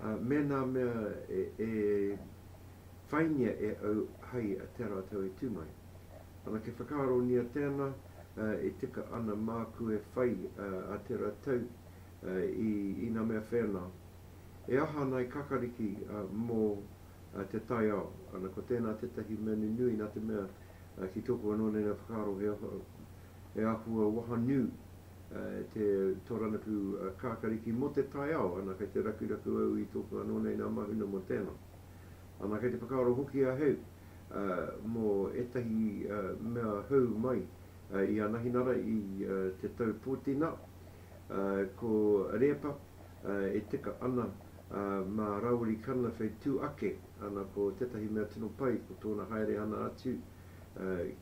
me nā mea e whaingia e au hai a te ara tau e tū mai. Anake whakaaronia tēnā, e tika ana māku e whai a te ra tau i ina mea whēnā. E aha ana e Kakariki mō te taiao? Ana, ko tēnā tētahi mea nunui nā te mea ki tōku anō nei nei whakaaro he āhua wahanu. te tōrangapū kākariki mō te taiao, ana kei te rakuraku au i tōku anō nei nā Mahuna mō tēnā. Ana kei te whakaaro hoki ahau mō ētahi mea hou mai i Anahinara i te tau pōtinā, ko Rēpa e tika ana mā Raori Kanawhei tū ake, ana ko tētahi mea tino pai ko tōna haere ana atu,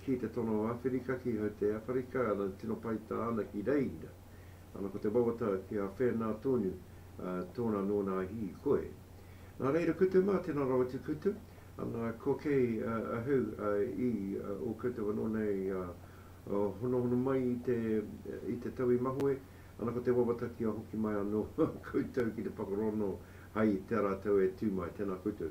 ki te tono o Awherika, ki Haute Africa, ana tino pai tā ana ki reira, ana ko te wawata ki a Whena tonu, tōna nō nā hī koe. Nā reira kutu mā, tēnā rawa te kutu, ana ko kei ahau i ō koutou anō nei honohono mai i te tau i mahue, ana ko te wawata kia hoki mai anō koutou ki te whakarono hai tērā tau e tū mai, tēnā koutou.